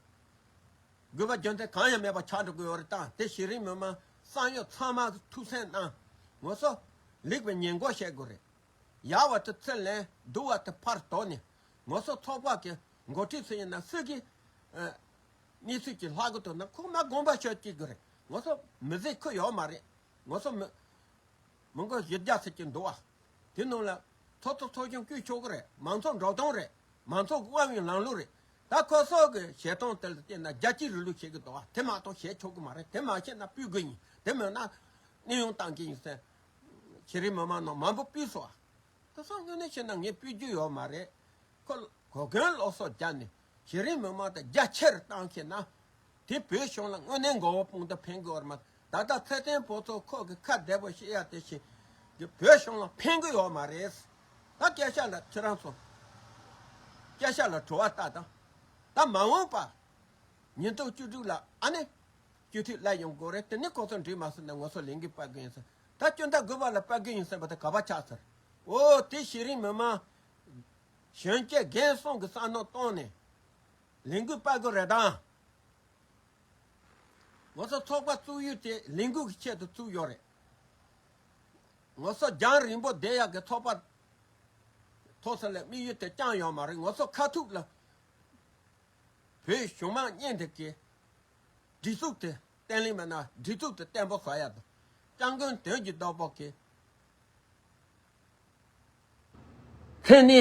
རྒུད་པ་རྒྱུ་མཚན་གང་ཡང་མེད་པར་ཆགས་འགྲོ་གི་ཡོད་རེད་ད་དེ་གཞི་རིམ་མི་མང་བསམ་ཡོད་ཚང་མ་ཐུགས་སེམས་གནང་ངོ་སོ། ལེགས་པའི་ཉེས་འགོག་བཤད་དགོས་རེད། ཡར་བ་དེ་ཚེ་ལས་བསྡུ་བ་དེ་ཕར་དོགས་ནས་ངོ་སོ་ཚོགས་དཔག་གི་འགོ་ཁྲིད་སུ་ཡིན་ན་སྲིད་ཀྱི་གནས་ཚུལ་གྱི་ལྷག་གོ་དོ་ན་ཁུག་མ་དགོངས་པ་ཆོས་སྐྱིད་དགོས་རེད་ངོ་སོ་མི་བཟད་ཁུག་ཡོག་མ་རེད་ངོ་སོ་མི་མི་མགོ་བཞི་བརྒྱ་ཟེར་གྱི་འདུག་བ་དེ་རྣམས་ལ་ཚོགས་གཙོ་ཚོགས་ཆུང་བསྐྱུད་ཆོག་གི་རེད་མང་ཚོགས་འགྲོ་སྟངས་རེད་མང་ཚོགས་དབང་བའི་ལམ་ལུགས་རེད་ད་ཁོ་སོགས་ཀྱི་བྱེད་སྟངས་དེ་ལ་བལྟས་ན་རྒྱ་སྐྱེད་རི་ལུགས་བྱེད་ཀྱི་འདུག་བ་དེ་མ་གཏོགས་བྱེད་ཆོག་གི་མ་རེད་དེ་མ་བྱས་ན་སྤུད་དགོས་ཡིན་དེ་མེད་ན་གནས་དབྱུང་བཏང་གི་ཡིན་སེམས་ཁྱེད་རིགས་མི་མང་ནང་མང་པོ་སྤུས་སོ། ཁོ་ཚོ་དངོས་གནས་བྱས་ན་ངས་སྤུས་རྒྱུ་ཡོད་མ་རེད། ཁོ་གོ་གོན་ལོག་སོགས་རྒྱབ་ནས་ཁྱེད་རིགས་མི་མང་དང་རྒྱ་ཆེར་བཏང་ཤེས་ན། དེ་བོད་གཞུང་ལ་དངོས་གནས་མགོ་བོ་དཔུང་དུ་འཕེན་གི་ཡོད་མ་ད་ལྟ་ཚེ་བརྟན་ཕོ་ཚོ་ཁོག་གི་ཁ་བདེ་པོ་བཤད་ཡ་དེ་བཞིན་གྱི་བོད་གཞུང་ལ་འཕེན་གི་ཡོད་མ་རེད། ད་སྐད་ཆ་ལ་ཁྱེད་རང་ཚོ་སྐད་ཆ་ལ་བྲོ་བ་ལྟ་དང། ད་མ་འོངས་པ་ཉིན་ཐོག་བཅུ་དྲུག་ལ་ཨ་ནེ། སྐྱོད་མཐུད་སླད་ཡོང་དགོས་རེད་དེ་ནས་ཁོང་ཚོ་འགྲིག་མ་སོང་ནས་ངོ་སོ་ལེན་གི་པར་གི་ཡིན་ཟེར་ད་སྐྱོན་བརྡ་དགོས་པ་ལ་པར་གི་ཡིན་ཟེར་བ་དེ་ག་པར་ཆགས་ཟེར་འོ་དེ་ཤེས་རིང་མི་མང་གཞོན་སྐྱེས་རྒན་སོང་གི་བསམ་མནོ་བཏང་ནས་ལས་འགུལ་སྤར་དགོས་རེད་དམ། ངོ་སོ་ཚོགས་པ་བཙུགས་ཡུལ་དེ་ལས་འགུལ་གི་ཆེད་དུ་བཙུགས་ཡོད་རེད། ངོ་སོ་རྒྱང་རིང་པོ་བསྡད་ཡག་གི་ཚོགས་པ་ཐོག་སོང་ལ་དམིགས་ཡུལ་དེ་རྐྱང་ཡོད་མ་རེད་ངོ་སོ་ཁ་ཐུག་ལ་བོད་གཞུང་མང་གཉེན་སྒྲིག་གི་གྲི་གཙུག་ཏུ་བསྟན་ལིང་བ་ན་གྲི་གཙུག་ཏུ་བསྟན་པོ་ཧོ་ཡ་དང། སྤྱང་རྒོན་དོན་གྱི་བདག་པོ་གི། མཚན་ནི།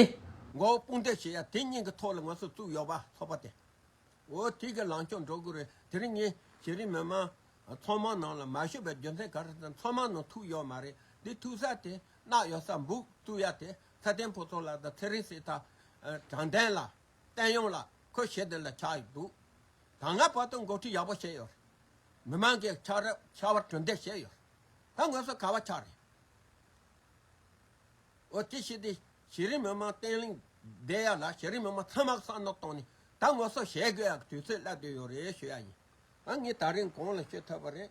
མགོ་བོ་དཔུང་སྟེགས་བྱས་ཡ་དེ་སྙིང་གི་ཐོག་ལ་ང་ཚོ་གཙུག་གཡོག་པ་ཚོགས་པ་དེ། འོ་དེ་གི་ལང་ཀྱོག་འགྲོ་དགོས་རེད་དེ་རིང་ངས་ཤེས་རིག་མི་མང། ཚོགས་མང་ནང་ལ་མ་ཞུགས་པའི་རྒྱུ་མཚན་ག་རེ་དང་ཚོགས་མང་ནང་ཐུག་ཡོད་མ་རེད་དེ་ཐུག་ས་དེ་གནག་ཡོད་ས་འབུག་གཙུག་ཡ་དེ་ཚ་བརྟན་ཕོ་ཚོགས་ལ་དང་ཚེ་རིང་སྲས་ཐ། དྲང་བདེན་ལ། བསྟན་ཡོང་ལ་ཁོས་བྱེད་དོན་ལ་ཆགས་ཡོད་འདུག་ད་སྔ་བར་དུ་འགོ་ཁྲིད་ཡག་པོ་བྱས་ཡོད་མི་མང་གི་ཆགས་རབ་ཤ་བར་གྲུ་འདེགས་བྱས་ཡོད་ད་དངོས་སུ་ག་བ་ཆགས་རེད་འོ་དེ་བྱས་དེ་བྱས་རིང་མི་མང་བརྟན་ལྷིང་བསྡད་ཡག་ལ་བྱས་རིང་མི་མང་ཚང་མ་ས་ནག་བཏང་ནས་ད་དངོས་སུ་བྱེད་དགོས་ཡག་གི་དུས་ཚོད་སླེབས་དོད་ཡོད་རེད་ཤོད་ཡག་ཡིན་ང་ངས་ད་རིང་གང་ལ་ཤོད་ཐུབ་པ་རེད།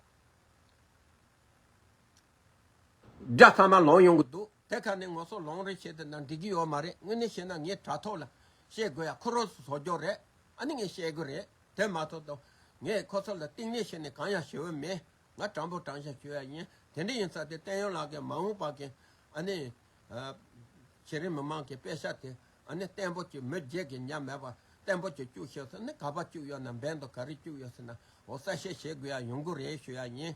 སྒྲ་ཚང་མ་ལོང་ཡོང་གི་འདུག་དེ་ག་ནས་ངོ་སོ་ལོང་རེ་བྱེད་དེ་ན་འགྲིག་གི་ཡོད་མ་རེད་དངོས་གནས་བཤད་ན་ངའི་དྲ་ཐོག་ལ་བཤད་དགོས་ཡ་ཁོ་རོ་སོ་སོ་སྐྱོ་རེད་ཨ་ནི་ངས་བཤད་དགོས་རེད་དེ་མ་ཐོ་དང་ངས་ཁོ་ཚོ་ལ་གཏིང་ནས་བཤད་ནས་གང་ཡང་བྱེད་འོས་མེད་ང་དྲང་པོ་དྲང་བཞག་བྱོས་ཡ་ཡིན་དེ་འདྲ་ཡིན་ས་དེ་བསྟན་ཡོན་ལགས་གིས་མ་འོངས་པ་གི་ཨ་ནི་གཞི་རིམ་མི་མང་གི་དཔེ་ཆ་དེ་ཨ་ནི་བརྟན་པོ་བྱོས་མོད་རྗེས་ཀྱི་ཉམས་མེད་པར་བརྟན་པོ་བྱོས་བཅུག་ཤེས་ས་ནི་ག་པར་བཅུག་ཡོད་ན་འབེན་དང་ག་རེ་བཅུག་ཡོད་ས་ན་འོ་གསལ་བཤད་བྱེད་དགོས་ཡ་ཡོང་གི་རེད་བྱོས་ཡ་ཡིན།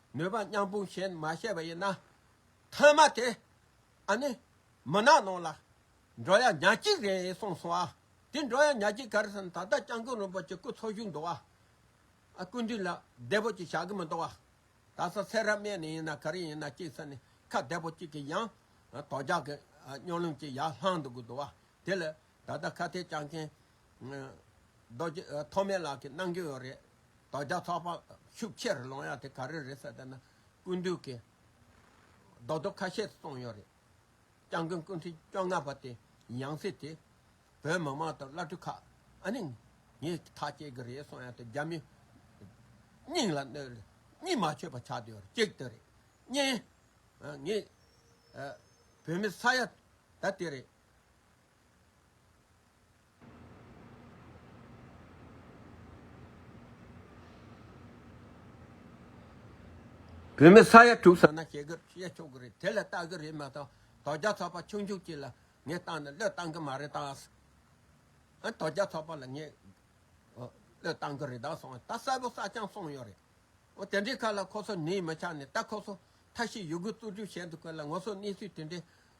མོས་པ་སྙམ་དཔུང་གཞན་མ་བཤད་པ་ཡིན་ན། མཐའ་མ་དེ་ཨ་ནི་མི་ནག་ནང་ལ་འགྲོ་ཡ་ཉག་གཅིག་རེད་གསུངས་སོང་ཨ། དེ་འགྲོ་ཡ་ཉག་གཅིག་གར་སོང་ད་ལྟ་སྤྱང་ཀུ་རིན་པོ་ཆེ་སྐུ་འཚོ་བཞུགས་འདུག་ཨ། སྐུ་མདུན་ལ་བདེ་པོ་ཅིག་བཞག་གི་མི་འདུག་ཨ། ད་གཟའ་ཚེས་རབ་སྨད་ནས་ཡིན་ན་ག་རེ་ཡིན་ན་གཅིག་ས་ནས་ཁ་བདེ་པོ་གཅིག་གིས་ཡང་དོ་ཇག་གི་སྨྱོ་ལུམ་ཅིག་ཡར་ལྷང་འདུག་གི་འདུག་ཨ། དེ་ལ་ད་ལྟ་ཁ་གཏད་བཅག་མཁན། རྡོ་རྗེ་ཐོགས་མེད་ལགས་ཀྱིས་གནང་རྒྱུ་ཡོད་རེད། དོ་རྒྱ་ཚོགས་པ་ཤུགས་ཆེར་ལོང་ཡག་དེ་ག་རེ་རེད་ཟེར་ད་ན་ཀུན་འདུས་ཀྱིས་རྡོག་རྡོག་ཁ་ཤས་གསུངས་ཡོད་རེད། སྤྱང་རྒོན་སྐུ་མཁྲིས་བཅོ་ལྔ་པ་དེ་ཡང་སྲིད་དེ་བོད་མི་མང་དང་བླ་སྤྲུལ་ཁག་ཨ་ནི་ངས་ཐག་བཅད་ཀྱི་རེད་གསུངས་ཡག་དེ་རྒྱ་མི་སྙིང་ལ་གནོད་རེད་གཉིད་མ་ཆོད་པ་ཆགས་དུས་ཡོད་རེད་གཅིག་དེ་རེད། གཉིས། ངས་བོད་མི་ས་ཡ་ད་དེ་རེད། བོད་མི་ས་ཡ་དྲུག་ཟ་ན་ཞེ་དགར་བཤད་ཆོག་གི་རེད་དེ་ལ་ལྟ་གི་རེད་མ་གཏོགས་དོ་རྒྱ་ཚོགས་པ་ཆུང་ཆུང་གཅིག་ལ་ངས་བཏང་ན་བློས་བཏང་གི་མ་རེད་ད། ཨ་དོ་རྒྱ་ཚོགས་པ་ལ་ངས་བློས་བཏང་གི་རེད་ད་སོང་ཨ་ད་གསལ་པོ་གསག་རྐྱང་སོང་ཡོད་རེད། ཨོ་དེ་འདྲའི་ཁ་ལ་ཁོ་ཚོ་ནི་མི་ཆགས་ནས་ད་ཁོ་ཚོ་མཐའ་ཤི་ཡོད་དགུ་རྩུབ་རྩུབ་བྱས་འདུག་གི་ལ་ངོ་སོ་གནས་ཚུལ་དེ་འདྲའི་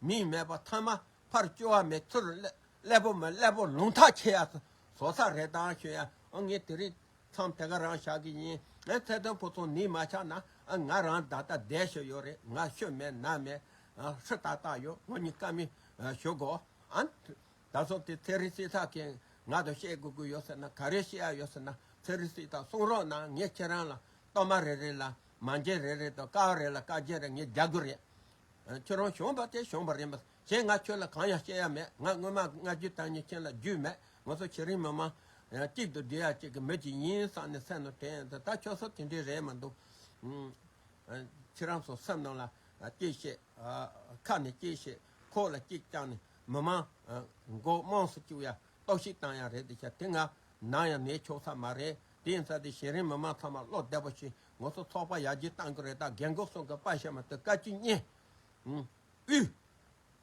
མིས་སྨྲས་པ་ཐ་མ་ཕར་བསྐྱུར་བ་མེད་ཚུལ་ལས་ཀླད་པོ་མི་ཀླད་པོ་ལུང་ཐག་ཆད་ཡ་ཟོ་ས་རེད་ད་ཞུ་ཡ་ཨ་ངས་དེ་རིང་མཚམས་དེ་ག་རང་བཞག་གི་ཡིན་ཨ་ཚེ་དོན་ཕོ་ཚོང་ནི་མ་ཆག་ན་ཨ་ང་རང་ད་ལྟ་བསྡད་ཞོ་ཡོད་རེད་ང་ཤོད་མེད་ན་མེད་ཨ་ཧྲི་ཏག་ཏག་ཡོད་ངོ་གཉིས་ཀ་མི་ཞུ་གོ་ཨ་ད་གཟོད་དེ་ཚེ་རིང་སྲིད་ཐག་གིས་ང་དང་བཤད་དགོས་ཀྱི་ཡོད་ཟེར་ན་ག་རེ་བཤད་ཡ་ཡོད་ཟེར་ན་ཚེ་རིང་སྲིད་ཐག་གསུང་རོགས་གནང་ངས་ཁྱེད་རང་ལ་གཏོར་མ་རེ་རེ་ལ་མ་འཇལ་རེ་རེ་དང་ཀ་བ་རེ་ལ་ཀ་བརྒྱད་རེ་ངས་རྒྱག་གི་རེད་ཁྱོད་རང་གཞོམ་པ་དེ་གཞོམ་པ་རེད་མོད། གཞན་ང་ཁྱོད་ལ་གང་ཡང་བཤད་ཡ་མེད། ང་སྔོན་མ་སྔ་རྒྱུད་སྟག་ཉིད་ཁྱེད་ལ་རྒྱུས་མེད། ང་ཚོ་ཁྱེད་རིང་མི་མང། གཅིག་ཏུ་བསྡུས་ཡ་གཅིག་གི་མི་གཅིག་ཡིན་བསམ་ནས་སེམས་ནོར་དེ་ཡིན་ད་ཁྱོད་ཚོ་དེ་འདྲའི་རེད་མི་འདུག། ཁྱེད་རང་ཚོ་སེམས་ནང་ལ་གཅིག་བཤད། ཁ་ནས་གཅིག་བཤད། ཁོག་ལ་གཅིག་བཅང་ནས་མི་མང། མགོ་དམངས་སུ་བཅུག་ཡ་ལྟོག་ཤི་བཏང་ཡ་རེད་དེ་ཤ་དེ་ང་ནང་ཡང་ནས་ཆོག་ས་མ་རེད། དེ་ཡིན་ས་དེ་གཞན་རིང་མི་མང་ཚང་མ་བློ་བདེ་པོ་བྱེད། ངོ་སོ་ཚོགས་པ་ཡར་རྒྱས་གཏང་གི་རེད་ད་རྒན་གོག་སོང་གི་དཔའ་ཞབས་མ་སྟོད་བཀའ་བཅུ་བསྙེན། དབུས།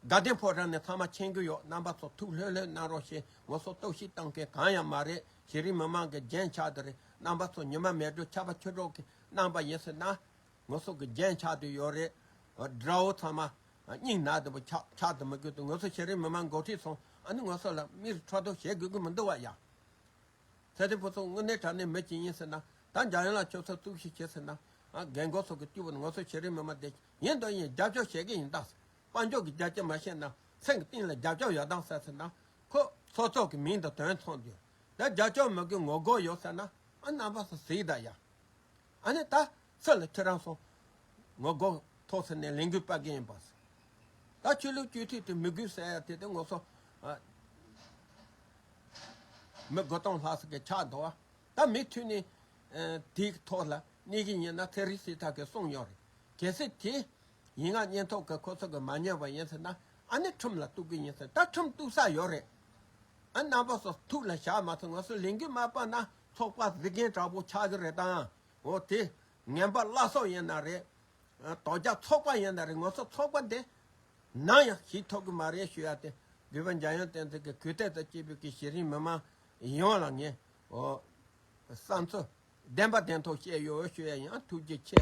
དགའ་ལྡན་ཕོ་བྲང་ནས་ཚང་མ་མཁྱེན་གི་ཡོད་རྣམ་པ་ཚོ་ཐུགས་ལྷོད་ལྷོད་གནང་རོགས་ཞེས་ངོ་སོ་གཏོགས་ཤིག་གཏང་མཁན་གང་ཡང་མ་རེད་གཞི་རིམ་མི་མང་གི་རྒྱན་ཆ་དེ་རེད་རྣམ་པ་ཚོ་ཉི་མ་མེད་དུས་ཆར་པ་ཆུ་གྲོགས་ཀྱིས་གནང་པ་ཡིན་སྲིད་ན། ངོ་སོ་གི་རྒྱན་ཆ་དེ་ཡོད་རེད། དགྲ་བོ་ཚང་མ། སྙིང་ནག་དེ་བོ་ཆ་དེ་མི་དགོས་དུས་ངོ་སོ་གཞི་རིམ་མི་མང་འགོ་ཁྲིད་སོང་ཨ་ནི་ངོ་སོ་ལ་མིར་འཕྲོ་དོག་བྱེད་དགོས་ཀྱི་མི་འདུག་བ་ཡ། ཚེ་རིང་བོ་སོགས་དངོས་གནས་དྲ་གནས་མི་གཅིག་ཡིན་ཟེར་ན། ད་འཇམ་དབྱངས་ལ་ཁྱོད་ཚོ་གཙུག་བཤད་བྱེད་ཟེར་ན། རྒན་གོག་སོགས་ཀྱི་སྐྱུག་བུ་ནང་སོ་བྱེད་རིན་མི་སྨྲ་དེ། ཡིན་དང་ཡིན་རྒྱབ་སྐྱོར་བྱེད་ཀྱི་ཡིན་དྭ་ཟེར། དཔའ་མཆོག་གི་རྒྱལ་གཅེས་མ་བཤད་ན། མཚན་གྱི་སྟེང་ལ་རྒྱབ་སྐྱོར་ཡོད་དྭ་ཟེར་ཟེར་ན། ཁོ། ཚོ་ཚོགས་ཀྱི་མིང་དང་དོན་མཚུངས་དུས། དེ་རྒྱབ་སྐྱོར་མི་དགོས་ངོ་རྒོལ་ཡོད་ཟེར་ན། ཨ་རྣམ་པ་སོགས་ཟིག་དྭ་ཡ། ཨ་ནི་ད། ཚེ་ལ་ཁྱེད་རང་སོང། ངོ་རྒོལ་ཐོག་ཟེར་ནས་ལས་འགུལ་སྤར་གྱི་ཡིན་པ། ད་ཆོས་ལུགས་སྤྱོད་ཐུས་དེ་མི་དགོས་ཟེར་ཡ་དེ་དེ་ངོ་སོང། མི་དགོ་སྟོང་ལྷག་ཟེར་གི་ཆགས་འདུག་བ། ད་མི་ཐུས་ནས། དེའི་ཐོག་ལ་གནས་གི་ཡིན་ན་ཚེ་རིང་སྲིད་ཐག་གི་གསུངས་མྱོང་རེད། གལ་སྲིད་དེ། ཡིན་ང་གཉེན་ཐོག་གི་ཁོ་ཚོ་གི་མ་ཉོས་པ་ཡིན་ཟེར་ན། ཨ་ནི་ཁྲིམས་ལ་གཏུགས་གི་ཡིན་ཟེར་ད་ཁྲིམས་གཏུགས་ས་ཡོད་རེད། ཨ་རྣམ་པ་སོགས་ཐུགས་ལ་བཞག་མ་ཟེར་ངོ་སོང་ལས་འགུལ་མ་སྤར་ན་ཚོགས་པ་གཟིགས་མཁན་དྲག་པོ་ཆགས་གི་རེད་དང། འོ་དེ་ངན་པ་བླ་སྲོག་ཡིན་ན་རེད། དོ་རྒྱ་ཚོགས་པ་ཡིན་ན་རེད་ངོ་སོ་ཚོགས་པ་འདི་ནང་ཡང་ཞིག་ཐོབ་གི་མ་རེད་ཞུ་ཡ་དེ་དགོས་པ་འཇའ་ཡང་བསྟན་འཛིན་གི་གུས་བརྟད་དང་སྐྱིད་པོ་གི་གཞི་རིམ་མི་མང་ཡོངས་ལ་ངས་བསམ་ཚུལ་བདེན་པ་བདེན་ཐོག་བཤད་ཡོད་ཞུ་ཡ་ཡང་ཐུགས་རྗེ་ཆེ།